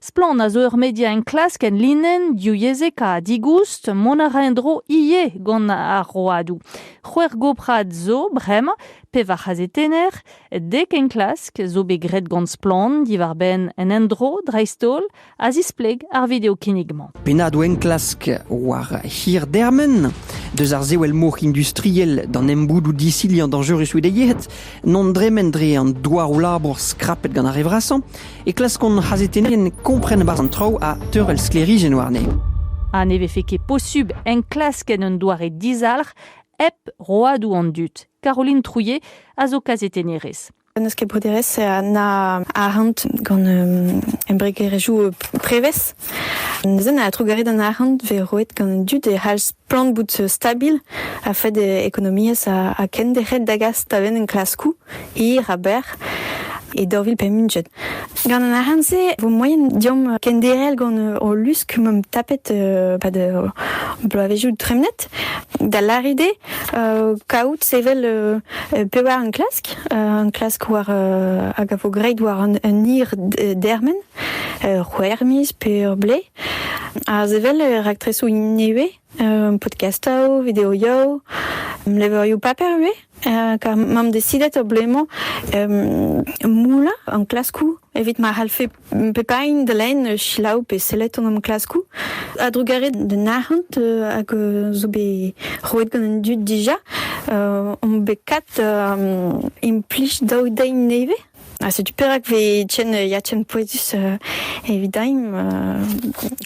Splann a zo ur media enklask enlinenn diwyezhekañ digoust. Mont a ra en-dro ivez gant ar roadoù. C'hwec'h goprad zo bremañ, pevar c'hazetenner, dek enklask zo bet graet gant Splann diwar-benn un endro dreist-holl a zispleg ar video-kinnig-mañ. Pennadoù enklask war hirdermen deus ar sewell-mor industriel d'an emboudoù disilhañ dañjerus eo bet yeet, non dremen dre an douaroù-labour skrapet gant ar re vrasañ, e klask hon c'hazetennerien kompren e-barzh an traoù ha teurel sklêrijenn warne. Ha ne vefe ket posubl enklask en un doare dizalc'h hep roadoù an dud. Caroline Trouillet a zo kazetennerez. An eskeploderezh na arc'hant gant um, embregerezhioù prevez. Neuzen a trugarez d'an arc'hant ve roet gant an dud e c'hall Plant bout stabil a-fed ekonomiezh ha kendec'het da gas da benn enklaskoù hir ha berr e daou vil pemp-ugent. Gant an aran-se e vo moaien diomp kenderel gant o lusk m'omp tapet euh, pad euh, bloavezioù tremnet da lârit eo euh, kaout sevel pevar enklask, enklask war hag a vo great war un, un hir dermen, ur c'houer miz pe ur blez Aze evel raktresoù nevez, podkastoù, videoioù, levrioù paper ivez. Kar m'am desidet o blez-mañ moulañ enklaskoù evit ma c'hallfe pep hini da lenn selaou pe sellet an enklaskoù. A-drugarez d'un arc'hant hag zo bet roet gant an dud dija, omp bet kat implij daou dein nevez. Ha setu perak vez ken ya ken pouezus evidaimp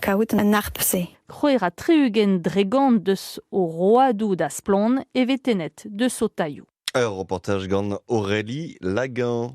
kaout an harp-se. Krouer ha tri-ugent dregont deus o roadoù da Splon e vez tennet deus o tailhoù. Ur reportaj gant Aurélie Lagan.